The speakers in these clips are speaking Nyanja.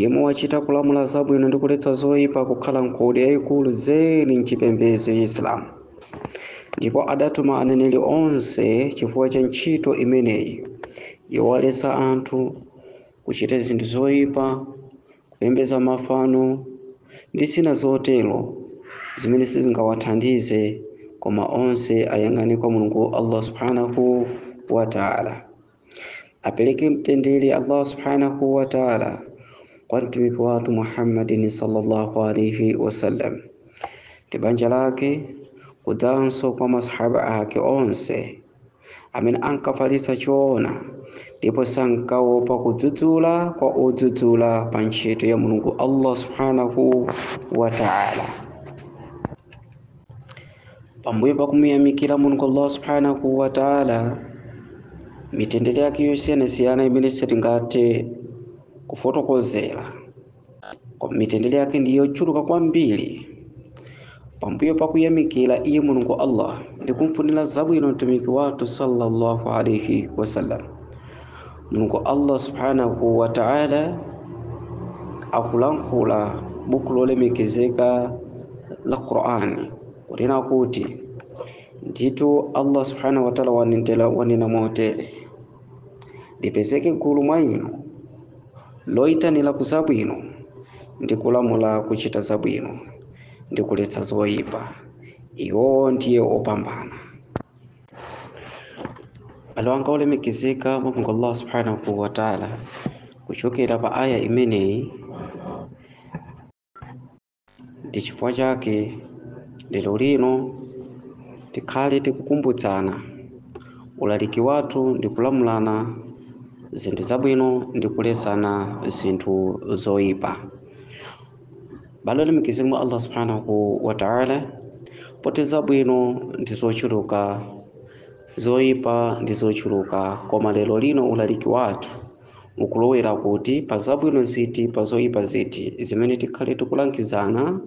yemwe wachita kulamula zabwino ndi kuletsa zoyipa kukhala ngodya yayikulu zedi mchipembedzo ya chisilamu ndipo adatuma aneneri onse chifukwa cha ntchito imeneyi yowaletsa anthu kuchita zinthu zoyipa kupembedza mafano ndi zina zotero zimene sizingawathandize koma onse ayang'ane kwa mulungu allah subhanahu wa taala apeleke mtendere allah subhanahu wa taala kwa mtumiki wathu muhammadin sallallahu alaihi wasallam ndi banja lake kudzanso kwa masahaba ake onse amene ankafalitsa choona ndipo sankaopa kudzudzula kwa odzudzula pa ntchito ya mulungu allah subhanahu wa taala pambuyo pa kumuyamikira mulungu allah subhanahu wa taala mitendere yake yosiyanasiyana imene sitingathe kufotokozera koma mitendere yake ndi yochuluka kwambiri pambuyo pa kuyamikira iye mulungu allah ndi kumfunira zabwino mtumiki wathu sallallahu alaihi wasallam Mulungu Allah subhanahu wa ta'ala akulankhula buku lolemekezeka la Qur'ani kunena kuti ndithu Allah subhanahu wa ta'ala wanena motere lipezeke gulu mwa inu loyitanira ku zabwino ndi kulamula kuchita zabwino ndi kuletsa zoyipa iwowo ndiye opambana abale anga olemekezeka mwa mulungu allah subhanahu wa taala kuchokera pa aya imeneyi ndi chifukwa chake lero lino tikhale tikukumbutsana ulaliki wathu ndi kulamulana zinthu zabwino ndi kulesana zinthu zoyipa abale olemekezeka mwa allah subhanahu wa ta'ala poti zabwino ndi zochuluka zoyipa ndi zochuluka koma lero lino ulaliki wathu ukulowera kuti pa zabwino ziti pa zoyipa ziti zimene tikhale tikulangizana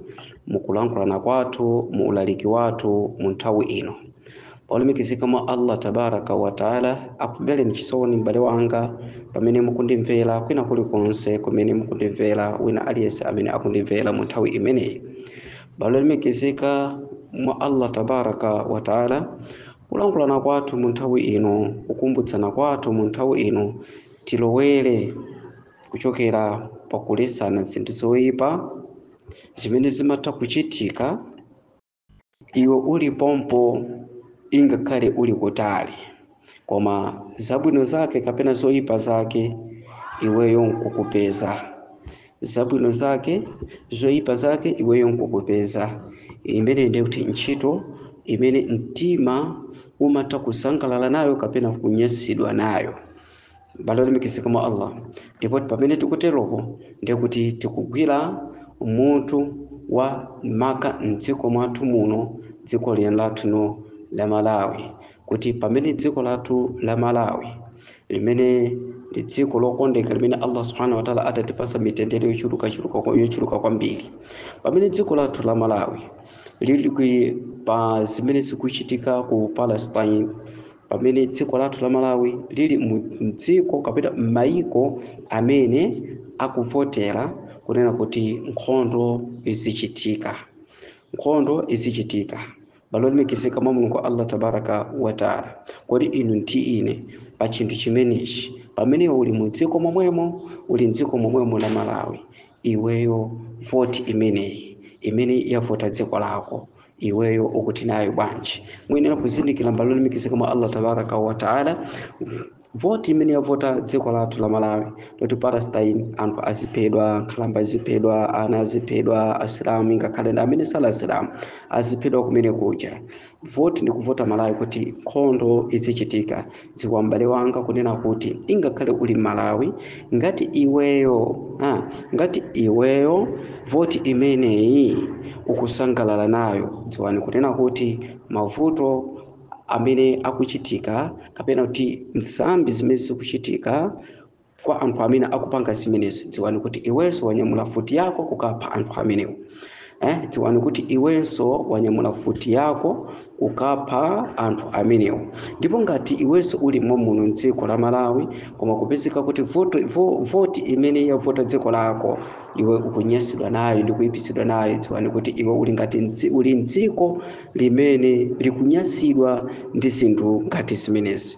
mukulankhulana kwathu mu ulaliki wathu mu nthawi ino Olemekezeka mwa Allah Tabaaraka wa Ta'ala akumvereni chisoni m'bale wanga pamene mukundimvera kwina kulikonse kumene mukundimvera wina aliyense amene akundimvera mu nthawi imeneyi. Abale olemekezeka mwa Allah Tabaaraka wa Ta'ala kulankhulana kwathu mu nthawi ino, kukumbutsana kwathu mu nthawi ino tilowere kuchokera pakulesana zinthu zoipa zimene zimatha kuchitika iwe uli pompo ingakhale uli kutali koma zabwino zake kapena zoyipa zake iweyo nkukupeza zabwino zake zoyipa zake iweyo nkukupeza imene ndiye kuti ntchito imene mtima umatha kusangalala nayo kapena kunyansidwa nayo m'bale wolemekezeka mwa allah ndipo pamene tikuteropo ndiye kuti tikugwira mutu wa maka mdziko mwathu muno dziko lino lathu lino la malawi kuti pamene dziko lathu la malawi limene ndi dziko lokondeka limene allah subhanahu wataala adatipasa mitendere yochuluka kwambiri pamene dziko lathu la malawi lili pa zimene zikuchitika ku palestine pamene dziko lathu la Malawi lili mdziko kapena m'mayiko amene akuvotera kunena kuti nkhondo izichitika nkhondo izichitika m'bale wolemekezeka mwa mulungu allah tabaraka wataala kodi inu ndi ine pa chinthu chimenechi pamene uli mu dziko momwemo uli mdziko momwemo la malawi iweyo voti imeneyi imene yavota dziko lako iweyo ukuti nayo bwanji muyenera kuzindikira m'bale wolemekezeka mwa allah tabaraka wataala voti imene yavota dziko lathu la malawi yoti palestine anthu aziphedwa nkhalamba aziphedwa ana aziphedwa asilamu ingakhale ndi amene sali asilamu aziphedwa kumene kuja voti ndi kuvota malawi kuti nkhondo izichitika dziwa m'bale wanga kunena kuti ingakhale uli malawi ngati iweyo ngati iweyo voti imeneyi ukusangalala nayo dziwani kunena kuti mavuto amene akuchitika kapena kuti nsambi zimene zikuchitika Kwa anthu amene akupanga zimenezi, dziwani kuti iwenso wanyamula mfuti yako kukapha anthu amenewo. Dziwani kuti iwenso wanyamula mfuti yako kukapha anthu amenewo. Ndipo ngati iwenso uli momwemuno m'dziko la Malawi, koma kupezeka kuti voti imene yavota dziko lako iwe ukunyasidwa nayo ndi kuipidwa nayo, dziwani kuti iwe uli ngati mdzi- uli m'dziko limene likunyasidwa ndi zinthu ngati zimenezi.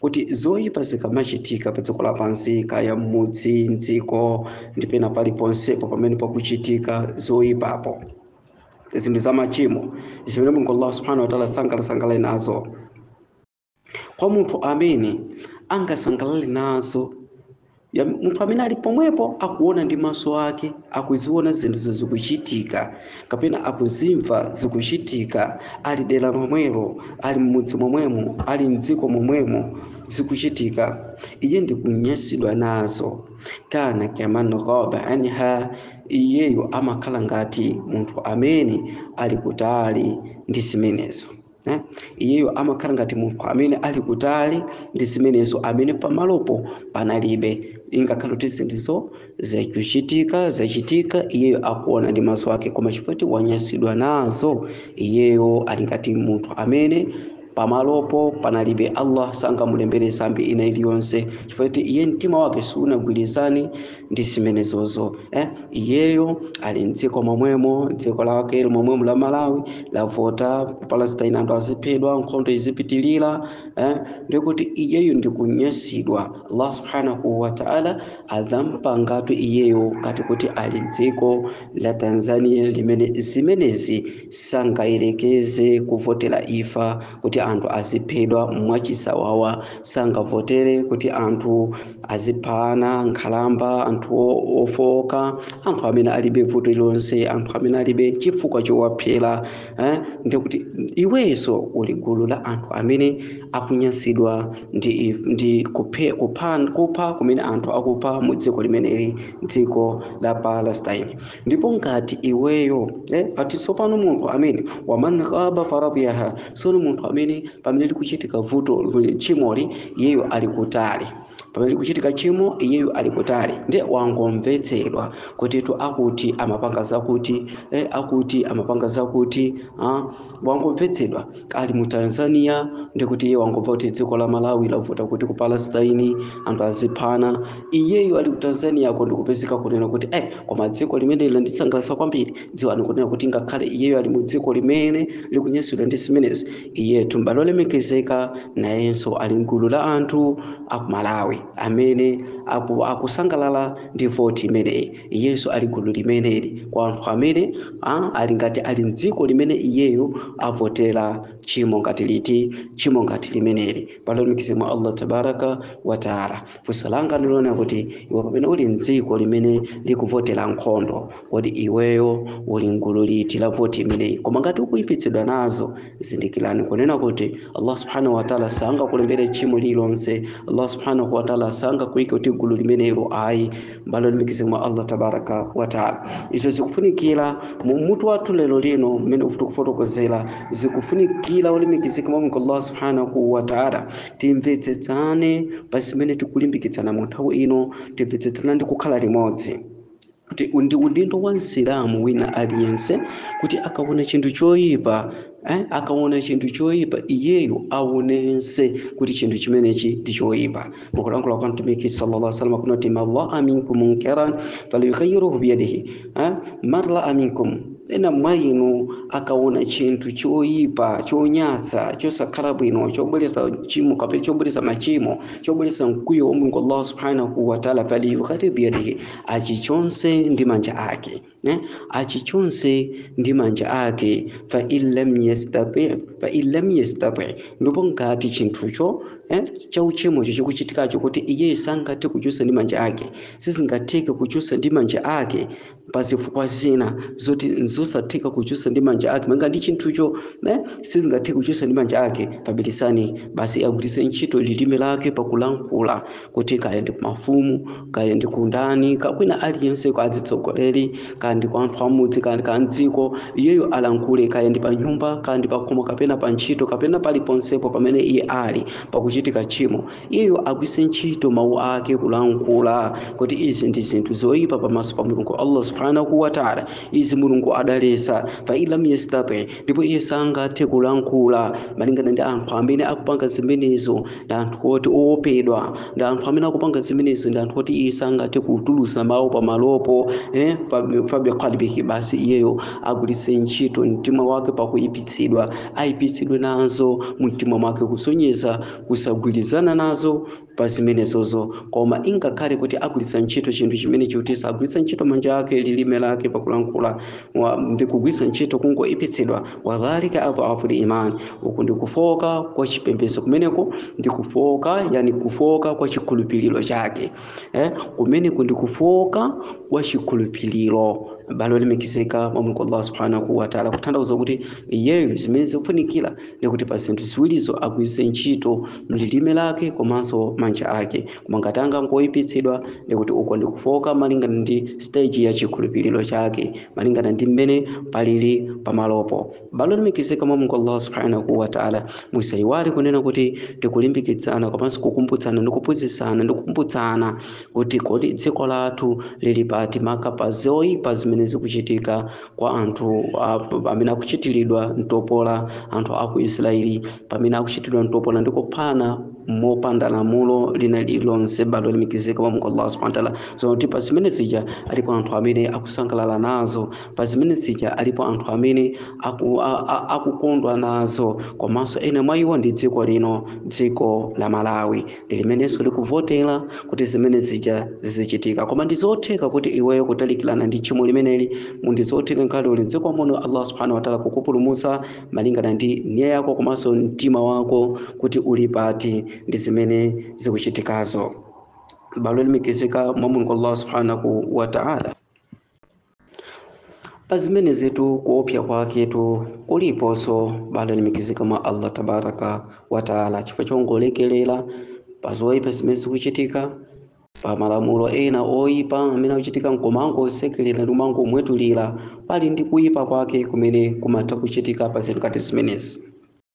kuti zoyipa zikamachitika pa dziko lapansi kaya m'mudzi mdziko ndi pena paliponsepo pamene pakuchitika zoyipapo zinthu za machimo zimene mulungu allah subhanahu wataala sangasangalale nazo kwa munthu amene angasangalale nazo ya munthu amene ali pomwepo akuona ndi maso ake akuziona zinthuzo zikuchitika kapena akuzimva zikuchitika ali dera lomwelo ali mmudzi momwemo ali mdziko momwemo zikuchitika iye ndikunyasidwa nazo kana kaman ghaba anha iyeyo amakhala ngati munthu amene ali kutali ndi zimenezo Eh? iyeyo amakhala ngati munthu amene ali kutali ndi zimenezo amene pamalopo panalibe ngakhale kuti zinthuzo zachitika zachitika iyeyo akuona ndi maso ake koma chifukwa choti wanyasidwa nazo iyeyo ali ngati munthu amene pamalopo panalibe allah sangamulembere sambi ina iliyonse chifukwa choti iye mtima wake sunagwirizane ndi zimenezozo eh? iyeyo ali mdziko momwemo dziko lake momwemo la malawi lavota palestine anthu aziphedwa nkhondo izipitilira eh? ndikuti iyeyo ndikunyasidwa allah subhanahu wataala adzampangatu iyeyo ngati kuti ali mdziko la tanzania limene zimenezi sangayerekeze kuvotera imfa kuti anthu aziphedwa mwachisawawa sangavotere kuti anthu azipha ana nkhalamba anthu o- ofooka anthu amene alibe vuto lililonse anthu amene alibe chifukwa chowaphera eh? ndikuti iwenso uli gulu la anthu amene akunyasidwa ndi, if- ndi kuphe, kupha, kupha kumene anthu akupha mu dziko limeneli dziko la palestine ndipo ngati iweyo eh, ati tsopano munthu amene waman ghaba faradiyaha sono munthu amene pamene likuchitika vuto tchimoli iyeyo ali kutali pamene likuchitika tchimo iyeyo ali kutali ndiye wangomvetsedwa kutitu akuti amapanga zakuti eh, akuti amapanga zakuti ah, wangomvetsedwa ali mu tanzania ndikuti iye wangomva kuti dziko la malawi lavota kuti ku palestine anthu aziphana iyeyo ali ku tanzaniako ndikupezeka kunena kuti eh, koma dziko limeneli landisangalatsa kwambiri dziwani kunena kuti ngakhale iyeyo ali mu dziko limene likunyasidwa ndi zimenezi iyetu m'bale olemekezeka nayenso ali mgulu la anthu aku malawi amene aku- akusangalala ndi voti imeneyi Iyenso ali gulu limeneli kwa anthu amene a, ali ngati ali m'dziko limene iyeyo avotera tchimo ngati liti, tchimo ngati limeneli. Abale olemekezeka mwa Allah tabaraka wa taala. Funso langa ndilonena kuti iwe pamene uli m'dziko limene likuvotera nkhondo, kodi iweyo uli m'gulu liti la voti imeneyi? Koma ngati ukuipitsidwa nazo, zindikirani kunena kuti Allah subhanahu wa taala sangakulembere tchimo lililonse. Allah subhanahu wa taala sangakuike kuti gulu limenelo ayi. abale olemekezeka mwa allah tabaraka wataala izo zikufunikira mu mutu wathu lero lino mmene tikufotokozera zikufunikira olemekezeka mwa mulungu allah subhanahu wataala timvetsetsane pa zimene tikulimbikitsana mu nthawi ino timvetsetsane ndi kukhala limodzi kuti ndi udindo wa msilamu wina aliyense kuti akaona chinthu choyipa eh? akaona chinthu choyipa iyeyo aonense kuti chinthu chimenechi ndi choyipa mukulankhula kwa mtumiki sallallahu alaihi wasallam kunati man raa minkum munkaran falyughayyiruhu biyadihi eh? man raa minkum ena mwa inu akaona chinthu choyipa chonyansa chosakhala bwino chobweresa chimo kapena chobweresa machimo chobweresa mkwiyo wa mulungu allah subhanahu wataala falyughayyiruhu biyadihi achichotse ndi manja ake eh, achichotse ndi manja ake fa illam yastati fa illam yastati ndipo ngati chinthucho eh, cha uchimocho chikuchitikacho kuti iyeyo sangathe kuchotsa ndi manja ake sizingatheke kuchotsa ndi manja ake pa zifukwa zina zoti nzosatheka kuchotsa ndi manja ake malingana ndi chinthucho eh, sizingatheke kuchotsa ndi manja ake fabilisanihi basi agwiritse ntchito lilime lake pakulankhula kuti kaya ndi kumafumu kaya ndi kwa ndani kaya kwa wina aliyense kwa azitsogoleri kaya ndi kwa anthu amudzi kaya ndi mdziko iyeyo alankhule kaya ndi pa nyumba kaya ndi pakhomo kapena pa ntchito kapena paliponsepo pamene iye ali pakuchitika tchimo iyeyo agwise ntchito mawu ake kulankhula kuti izi ndi zinthu zoyipa pamaso pa mulungu allah subhanahu wataala izi mulungu adalesa fa illam yastati ndipo iye sangathe kulankhula malingana ndi anthu amene akupanga zimenezo ndi anthu oti owopedwa ndi anthu amene akupanga zimenezo ndi anthu oti iye sangathe kutulusa mawu pamalopo eh? fabi qalbihi basi iyeyo agwiritse ntchito mtima wake pakuyipitsidwa ayipitsidwe nazo mu mtima mwake kusonyeza kusagwirizana nazo pa zimenezozo, koma ngakhale kuti agwiritsa ntchito chinthu chimene chikuti agwiritsa ntchito manja ake lilime lake pakulankhula ndi kugwiritsa ntchito kungoipitsidwa wadhalika adhafu liman uku ndi kufowoka kwa chipembedzo kumeneko ndi kufowoka yani kufowoka kwa chikhulupiriro chake eh, kumeneko ndi kufowoka kwa chikhulupiriro abale olemekezeka mwa mulungu allah subhanahu wataala kutanthauza kuti iyeyo zimene zikufunikira ndi kuti pa zinthu ziwirizo agwiritse ntchito lilime lake komanso manja ake koma ngati angangoyipitsidwa ndikuti uko ndikufooka malingana ndi stage ya chikhulupiriro chake malingana ndi mmene palili pamalopo abale olemekezeka mwa mulungu allah subhanahu wa taala musayiwale kunena kuti tikulimbikitsana komanso kukumbutsana ndi kuphunzitsana ndi kukumbutsana kuti kodi dziko lathu lili pati maka pa zoyipa zimene zikuchitika kwa anthu amene akuchitiridwa mtopola anthu a ku israeli pamene akuchitiridwa mtopola ndi kuphana mopanda lamulo lina lililonse bado limekezeka kwa mungu allah subhanahu wataala zoona kuti pa zimene zija alipo anthu amene akusangalala nazo pa zimene zija alipo anthu amene aku, a, a, akukondwa nazo komanso ena mwa iwo ndi dziko lino dziko la malawi ndi limenenso likuvotera kuti zimene zija zizichitika koma ndi zotheka kuti iweyo kutalikirana ndi tchimo limeneli ndi zotheka nkhale uli mdziko muno allah subhanahu wataala kukupulumutsa malingana ndi nia yako komanso mtima wako kuti uli pati ndi zimene zikuchitikazo abale olemekezeka mwa mulungu allah subhanahu wataala pazimenezitu kuopsa kwaketu kuliponso abale olemekezeka mwa allah tabaraka wataala chifukwa chongolekelera pa zoyipa zimene zikuchitika pa malamulo ena oyipa amene akuchitika nkumangosekelera ndi kumangomwetulira pali ndi kuyipa kwake kumene kumatha kuchitika pa zinthu ngati zimenezi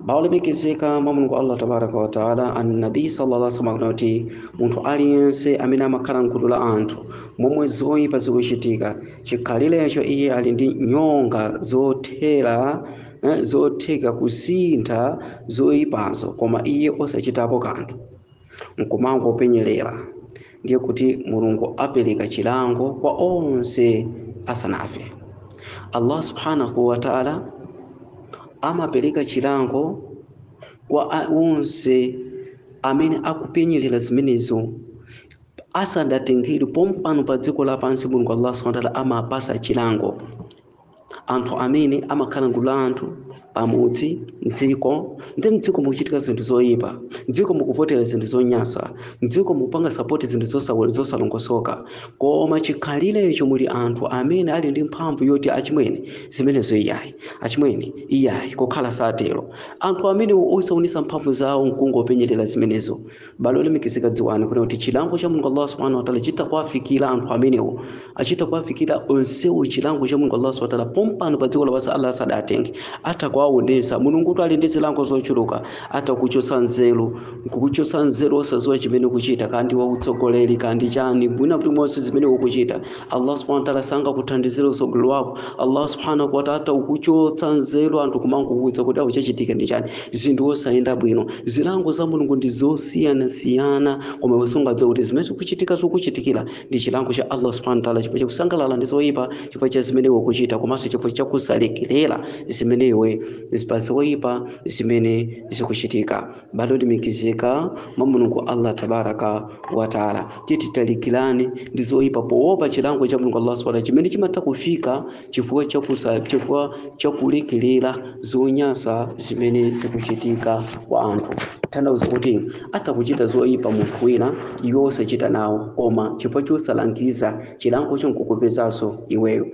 abale olemekezeka mwa mulungu allah tabaraka wataala annabi sallallahu alaihi wasallam akunena kuti munthu aliyense amene amakhala mgulu la anthu momwe zoyipa zikuchitika chikhalirecho iye ali ndi nyonga zothera eh, zotheka kusintha zoyipazo koma iye osachitapo kanthu nkumangopenyerera ndiye kuti mulungu apereka chilango kwa onse asanafe allah subhanahu wataala amapereka chilango kwa a- onse amene akupenyerera zimenezo asadatengedwe pompano pa dziko lapansi mulungu allah subhanahu wataala amapasa chilango anthu amene amakhala mgulu la anthu pamudzi mdziko ndi mdziko mukuchitika zinthu zoyipa mdziko mukuvotera zinthu zonyasa mdziko mukupanga sapoti zinthu zosa- zosalongosoka koma chikhalirecho muli anthu amene ali ndi mphamvu yoti achimwene zimenezo iyayi achimwene iyayi kukhala osatero anthu amene osaonesa mphamvu zawo nkungopenyerera zimenezo abale olemekezeka dziwani kunena kuti chilango cha mulungu allah subhanahu wataala chitha kuwafikira anthu amenewo chitha kuwafikira onsewo chilango cha mulungu allah subhanahu wataala pompano pa dziko lapansi allah asadatenge atha kuwaonesa mulungu kuti ali ndi zilango zochuluka atha kuchotsa nzeru nkukuchotsa nzeru osadziwa chimene ukuchita kandi wautsogoleri kandi chani mwina kuti monse zimene ukuchita Allah subhanahu wa ta'ala sangakuthandizire utsogolo wako Allah subhanahu wa ta'ala atakuchotsa nzeru anthu kumangokuwuza kuti chachitika ndi chani zinthu zosayenda bwino zilango za mulungu ndi zosiyanasiyana koma iwe sungadziwe kuti zimene zikuchitika zikuchitikira ndi chilango cha Allah subhanahu wa ta'ala chifukwa chakusangalala ndi zoyipa chifukwa cha zimene iwe ukuchita komanso chifukwa chakusalekerera zimene iwe pa zoyipa zimene zikuchitika abale olemekezeka mwa mulungu allah tabaraka wataala tiye titalikirane ndi zoyipa poopa chilango cha mulungu allah subhanahu chimene chimatha kufika chifukwa chakusa chifukwa chakulekerera zonyasa zimene zikuchitika kwa anthu tanthauza kuti atha kuchita zoyipa munthu wina iwe osachita nawo koma chifukwa chosalangiza chilangocho nkukupezanso iweyo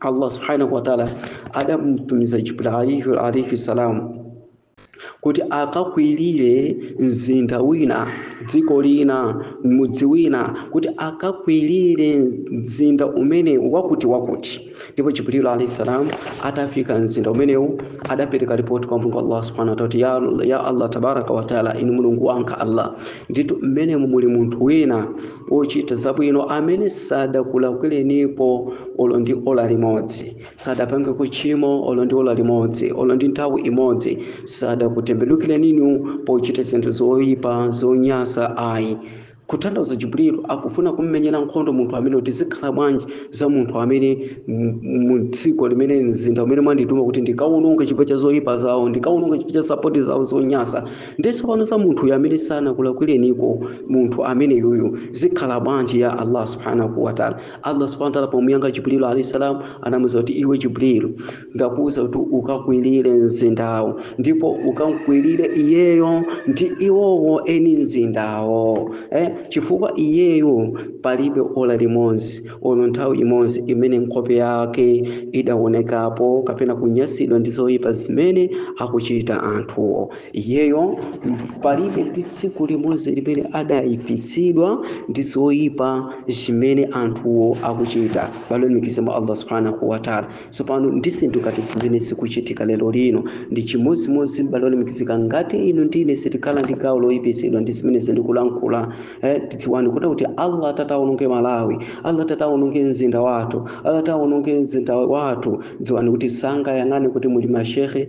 allah subhanahu wataala adamtumiza jibril alaihi, alaihi salam kuti akakwirire mzinda wina dziko lina mudzi wina kuti akakwirire mzinda umene wakuti wakuti ndipo jibrilu alaihi salam atafika mzinda umenewu adapereka ripoti kwa mulungu allah subhanahu wataala kuti ya, ya allah tabaraka wataala inu mulungu wanga allah ndithu mmenemu muli munthu wina ochita zabwino amene sadakulakwirenipo olo ndi ola limodzi sadapange kuchimo olo ndi ola limodzi olo ndi nthawi imodzi sadakutembenukireninu pochita zinthu zoyipa zonyasa ayi kutanthauza jibrilu akufuna kummenyera nkhondo munthu amene kuti zikhala bwanji za munthu amene mdziko limene mzinda umene mwandituma kuti ndikawononge chifukwa cha zoyipa zawo ndikawononge chifukwa cha sapoti zawo zonyasa ndiye tsopano za munthuyo amene sanakulakwirenipo munthu ameneyuyu zikhala bwanji ya allah subhanahu wataala allah subhanahu wataala pomuyankha jibrilu alahi salam anamuza kuti iwe jibrilu ndakuwuza kuti ukakwirire mzindawo ndipo ukamkwirire iyeyo ndi iwowo eni mzindawo eh? chifukwa iyeyo palibe ola limodzi olo nthawi imodzi imene nkhope yake idaonekapo kapena kunyasidwa ndi zoyipa zimene akuchita anthuwo iyeyo palibe ndi tsiku limodzi limene adayipitsidwa ndi zoyipa zimene anthuwo akuchita abale olemekezeka mwa allah subhanahu wataala tsopano ndi zinthu ngati zimene zikuchitika lero lino ndi chimodzimodzi abale olemekezeka ngati inu ndine sitikhala ndi gawo loyipitsidwa ndi zimene ndikulankhula eh, tidziwani kuti kuti allah atatawononge malawi allah atatawononge mzinda wathu allah atatawononge mzinda wathu dziwani kuti sangayang'ane kuti muli mashehe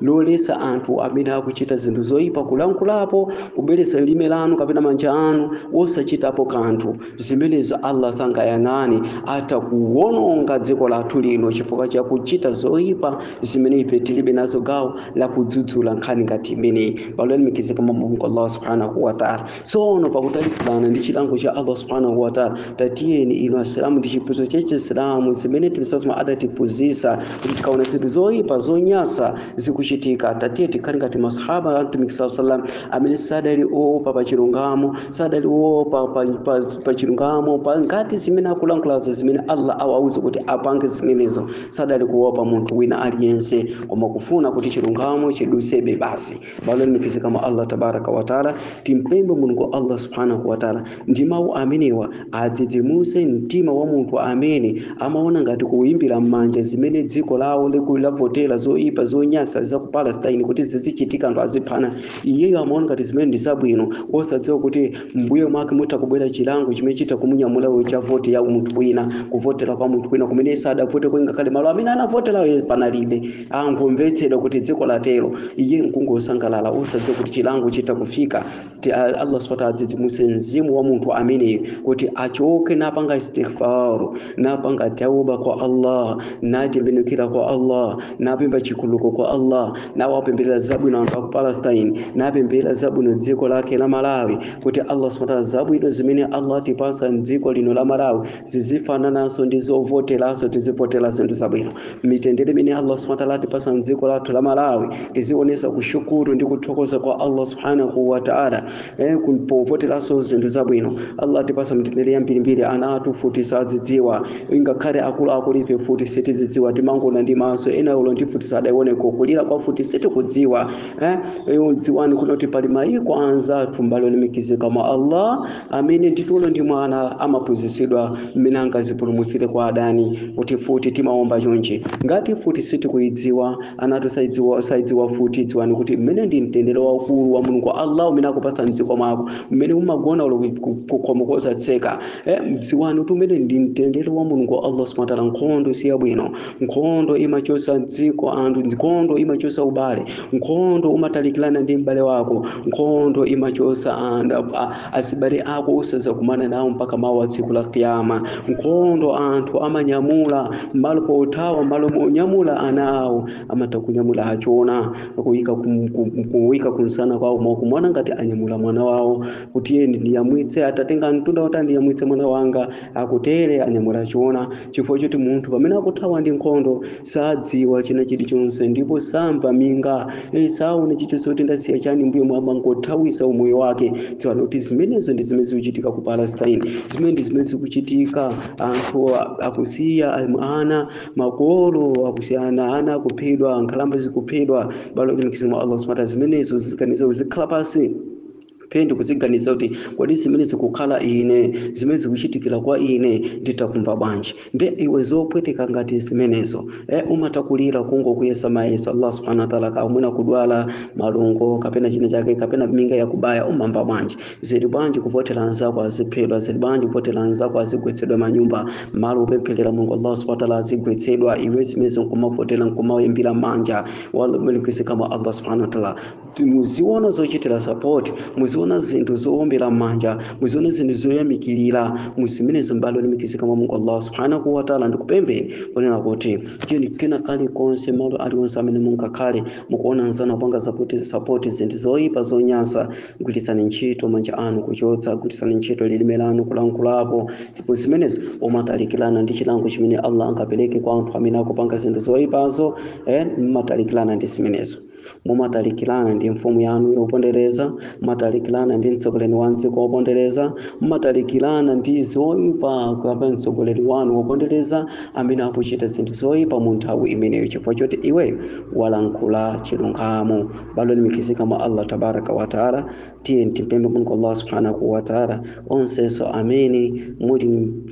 loletsa anthu amene akuchita zinthu zoyipa kulankhulapo kubweretsa lilime lanu kapena manja anu osachitapo kanthu zimenezo allah sangayang'ane atha kuwononga dziko lathu lino chifukwa cha kuchita zoyipa zimene ife tilibe nazo gawo la kudzudzula nkhani ngati imeneyi abale olemekezeka mwa mulungu allah subhanahu wataala tsono pakutalikirana ndi chilango cha allah subhanahu wataala tatiyeni inu asilamu ndi chiphunzitso cha chisilamu zimene mtumiki salam adatiphunzitsa kuti tikaona zinthu zoyipa zonyasa zikuchitika tatiye tikhale ngati masahaba a mtumiki saa salam amene sadali oopa pa chilungamo sadali oopa pa, pa, pa chilungamo pa ngati zimene akulankhulazo zimene allah awauze kuti apange zimenezo sadali kuopa munthu wina aliyense koma kufuna kuti chilungamo chidutsebe basi abale olemekezeka mwa allah tabaraka wataala timpembe mulungu allah subhanahu wataala ndi mawu amenewa adzidzimuse mtima wa munthu amene amaona ngati kuyimbira m'manja zimene dziko lawo liku- lavotera zoyipa zonyasa za ku palestine kuti zizichitika anthu aziphana iyeyo amaona ngati zimene ndi zabwino osadziwa kuti mbuyo mwake mutha kubwera chilango chimene chitha kumunyamula uyo cha voti ya munthu wina kuvotera kwa munthu wina kumene sadavote ingakhale malo amene anavoterayo panalibe angomvetsedwa kuti dziko latero iye nkungosangalala osadziwa kuti chilango chitha kufika Ti- a- allah subhanahu wataala adzidzimutse mzimu wa munthu ameneyo kuti achoke napanga istighfar napanga tauba kwa allah natembenukira kwa allah napempha chikhululuko kwa allah nawapempherera zabwino anthu aku palestine napempherera zabwino dziko lake la malawi kuti allah subhanahu wataala zabwino zimene allah atipasa mdziko lino la malawi zizifanananso ndi zovoterazo tizivotera zinthu zabwino mitendere imene allah subhanahu wataala atipasa mdziko lathu la malawi tizionesa kushukuru ndi kuthokoza kwa allah subhanahu wataala eh, ku- povoteranso zinthu zabwino allah atipasa mitendere yambirimbiri ana athu mfuti sazidziwa ingakhale akuluakulu ife mfuti sitizidziwa timangoona ndi maso ena olo ndi mfuti sadaioneko kulira kwa mfuti sitikudziwa eh, eh, dziwani kunena kuti pali mayiko anzathu abale olemekezeka mwa allah amene ndithu olo ndi mwana amaphunzitsidwa mmene angazipulumutsire kwa adani kuti mfuti timaomba chonchi ngati mfuti sitikuyidziwa ana athu sayidziwa mfuti dziwani kuti umene ndi mtendere waukulu wa mulungu allah umene akupatsa mdziko mwako mmene umagona olo kukhomo kosatseka eh, dziwani kuti umene ndi mtendere wa mulungu allah subhanahu wa ta'ala nkhondo siyabwino nkhondo imachotsa dziko anthu nkhondo imachotsa ubale nkhondo umatalikirana ndi m'bale wako nkhondo imachotsa anthu a- a- azibale ako osazakumana nawo mpaka mawa tsiku la kiyama nkhondo anthu amanyamula m'malo pothawa m'malo monyamula ana awo amatha kunyamula achona kuyika kum- kum- kuyika kumsana kwawo mwakuona ngati anyamula mwana wawo kuti iye ndiyamwitse atatenga mtunda kuti ndiyamwitse mwana wanga akutere anyamula achona chifukwa choti munthu pamene akuthawa ndi nkhondo sadziwa china chilichonse ndipo samva minga eh, saona chilichonse kuti ndasiya chani mbuyomu amangothawisa umoyo wake dziwani kuti zimenezo ndi zimene zikuchitika ku palestine zimene ndi zimene zikuchitika anthu a- akusiya am- ana makolo akusiya ana ana akuphedwa nkhalamba zikuphedwa abale olemekezeka mwa allah subhanahu wa ta'ala zimenezo uziganiza uzikhala pasi phe ndikuziganiza kuti kodi zimene zikukhala ine zimene zikuchitikira kwa ine nditha kumva bwanji nde iwe zopweteka ngati zimenezo eh, umatha kulira kungokuyesa mayeso allah subhanahu wa ta'ala kamwina kudwala malungo kapena china chake kapena minga yakubaya umamva bwanji zili bwanji kuvotera anzako aziphedwa zili bwanji kuvotera anzako azigwetsedwa manyumba malo opempherera mulungu allah subhanahu wa ta'ala azigwetsedwa iwe zimene nkumavotera nkumayimbira manja abale olemekezeka mwa allah subhanahu wa ta'ala muziona zochitira sapoti muziona zinthu zowombera m'manja muziona zinthu zoyamikirira muzimenezo abale olemekezeka mwa mulungu allah subhanahu wataala ndikupempheni kunena kuti cheni kena kalikonse malo aliwonse amene mungakhale mukuona nzanu apanga sapoti sapoti zinthu zoyipa zonyansa gwiritsani ntchito manja anu kuchotsa gwiritsani ntchito lilime lanu kulankhulapo ndipo zimenezo umatalikirana ndi chilango chimene allah angapereke kwa anthu amene akupanga zinthu zoyipazo eh, mmatalikirana ndi zimenezo mumatalikirana ndi mfumu yanu yopondereza mumatalikirana ndi mtsogoleri wa m'dziko wopondereza mumatalikirana ndi zoyipa kapena mtsogoleri wanu wopondereza amene akuchita zinthu zoyipa mu nthawi imeneyo chifukwa choti iwe walankhula chilungamo abale olemekezeka mwa allah tabaraka wataala tiyeni tipemphe mulungu allah subhanahu wataala onsenso amene muli,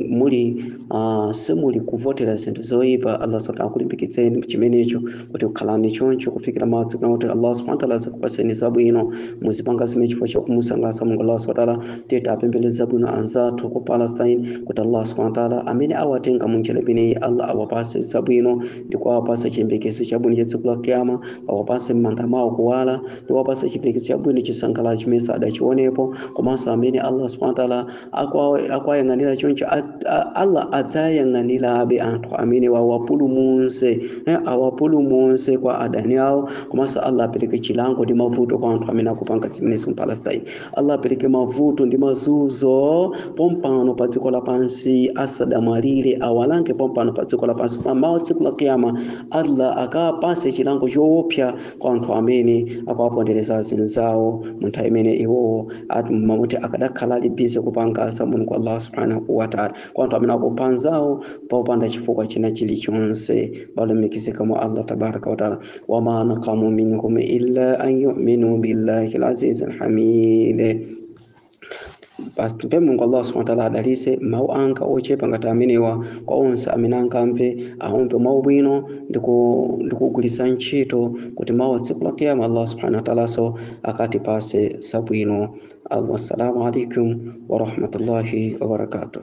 muli uh, simuli kuvotera zinthu zoyipa allah subhanahu akulimbikitseni chimenecho kuti khalani choncho kufikira madzi kuna kuti allah subhanahu wataala adzakupatseni zabwino muzipanga zimene chifukwa cha kumusangalatsa mulungu allah subhanahu wataala tiye tiwapemphere zabwino anzathu ku palestine kuti allah subhanahu wataala amene awatenga munjira imeneyi allah awapase zabwino ndi kuwapasa chiyembekezo chabwino cha tsiku la kiyama awapase m'manda mwawo kuwala ndi kuwapasa chiyembekezo chabwino chisangalalo chimene sadachiwonepo komanso amene allah subhanahu wataala akuwa- akuwayang'anira choncho a- a- allah adzayang'anirabe anthu amenewa awapulumutse eh, awapulumutse kwa adani awo komanso allah apereke chilango ndi mavuto kwa anthu amene akupanga zimenezi mu palestine allah apereke mavuto ndi mazunzo pompano pa dziko lapansi asadamwalire awalange pompano pa dziko lapansi pamawa tsiku la kiyama allah akapase chilango choopsa kwa anthu amene akuwapondereza azinzawo mu nthawi imene iwowo amati akadakhala ali bize kupanga za mulungu allah subhanahu wataala kwa anthu amene akupha anzawo popanda chifukwa china chilichonse abale olemekezeka mwa allah tabaraka wataala wama naqamu minhum illa an yuminu billahil azizil hamid Basi tipemphe Mulungu Allah subhanahu wa ta'ala adalitse mawu anga ochepa ngati amenewa kwa onse amene angamve awamve mawu bwino ndiku- ndikugwiritsa ntchito kuti mawa tsiku la kiyama Allah subhanahu wa ta'ala so akatipase zabwino. Wassalamu alaikum wa rahmatullahi wa barakatuh.